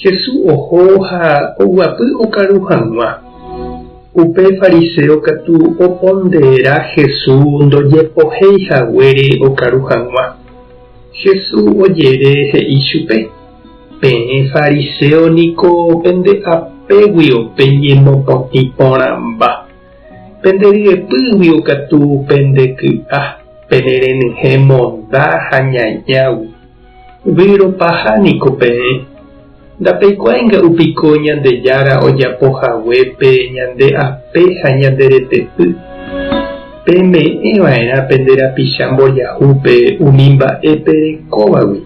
Hesu oho ha oguapy okaru hag̃ua. Upe fariséo katu oponderera Hesu ndojepohéi haguére okaru hag̃ua. Hesu ojere he'i chupe, Peẽ fariséo niko pende apégui ope ñemopotĩ porãmba. Pende ryepýgui katu pende ky'a, pene renyhẽ monda ha ñañágui. Vyrõpaha niko peẽ. Ndapeikuaáinga upiko Ñandejára ojapo haguépe ñande ape ha ñande retepy. Peme'ẽ va'erã pende rapicha mbojahúpe umi mba'e perekóvagui,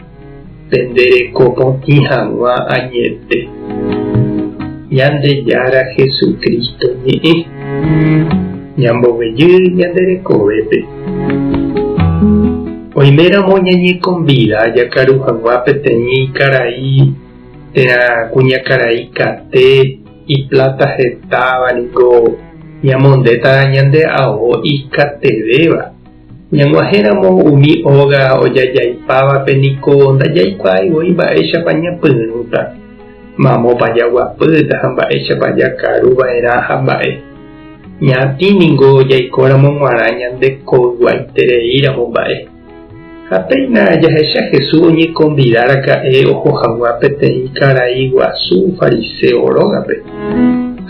pende reko potĩ hag̃ua añete. Ñandejára Jesucristo ñe'ẽ. Ñambovejy ñande rekovépe. Oiméramo ñañekonvida jakaru hagua peteĩ karai térã kuñakarai kate ipláta hetáva niko ñamondéta ñande ao ikatevéva. Ñag̃uahẽramo umi óga ojajaipávape niko ndajaikuaái voi mba'éichapa ñapyrũta, mamópa jaguapýta ha mba'éichapa jakaru va'erã ha mba'e. Ñaatĩ ningo jaikóramo g̃uarã ñande koyguaitereíramo mba'e. Ha péina jahecha Jesús oñekonvida raka'e oho hag̃ua peteĩ karai guasu fariseo rógape.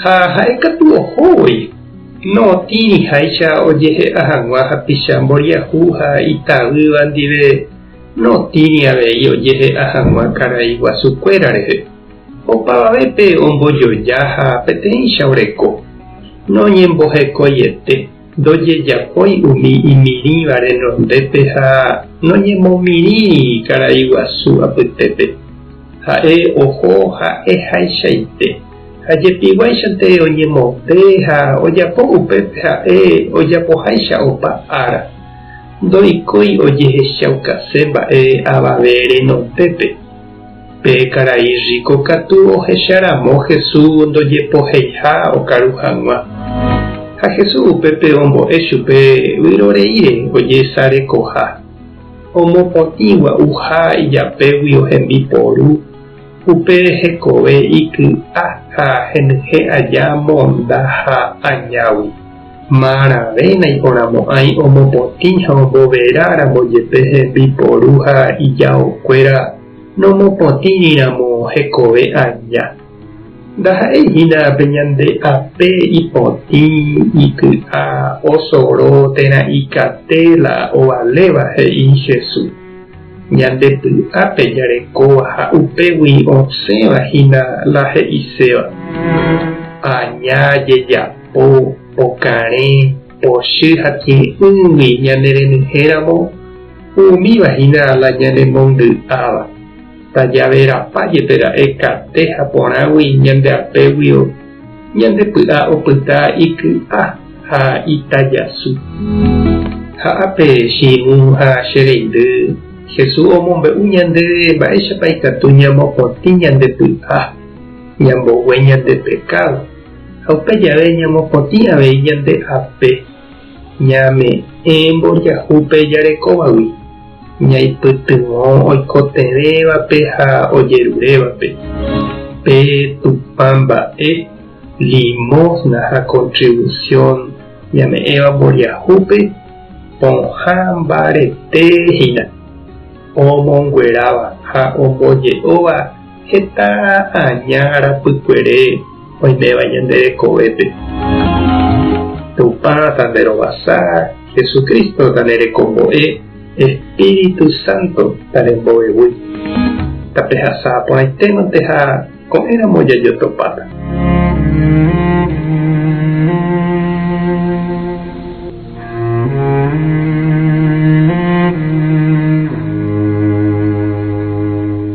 Ha ha'e katu oho voi, nootĩriháicha ojehe'a hag̃ua hapicha mboriahu ha itavýva ndive, nootĩri avei ojehe'a hag̃ua karai guasu kuéra rehe. Opavavépe ombojoja ha peteĩcha oreko. Noñembohekoiete, ndojejapói umi imirĩva renondépe ha noñemomirĩri karai guasu apytépe. Ha'e oho ha'ehaichaite ha jepiguáichante oñemonde ha ojapo upépe ha'e ojapoháicha opa ára. Ndoikói ojehechaukase mba'e avave renondépe. Pe karai riko katu ohecha ramo Hesu ndojepoheiha okaru hag̃ua. Ha Hesu upépe ombo'e chupe vyroreíre ojesarekoha. Omopotĩ gua'uha ijapégui ohembi poru, upe hekove iky'a ha henyhẽ aja monda ha añágui. Maravéna iporãmo'ãi omopotĩ ha omboverá ramo jepe hembiporu ha ijaokuéra nomopotĩriramo hekove aja. Ndaha'éi hína pe ñande ape ipotĩ, iky'a, osoro térã ikate la ovaléva, he'i Jesús. Ñande py'ápe jarekóva ha upégui osẽva hína la he'iséva, Aña jejapo. po pokarẽ, pochy ha kirirĩgui ñanerenyhéramo, umíva hína la ñanemongy'áva. Tajaverapa jepe ra'e kate ha porãgui ñande apégui ñande py'a opyta iky'a ha itajasy. Ha ápe, Shimũ ha che reindy, Jesús omombe'u ñandéve mba'éichapa ikatu ñamopotĩ ñande py'a, ñambogue ñande pekádo. Ha upe jave ñamopotĩ avei ñande ape, ñame'ẽ mbojahu pe jarekóvagui, ñaipytyvõ oikotevẽvape ha ojerurévape, pe Tupã mba'e, limosna ha contribución ñame'ẽva mbojahúpe, pohã mbarete hína, omongueráva ha omboje'óva Heta aña arapykuere oiméva ñande rekovépe. Tupã tanderovasa, Jesucristo tanerekombo'e, Espíritu Santo tarembovevúi. Tapehasa porãitémante ha ko'ẽramo jajotopáta.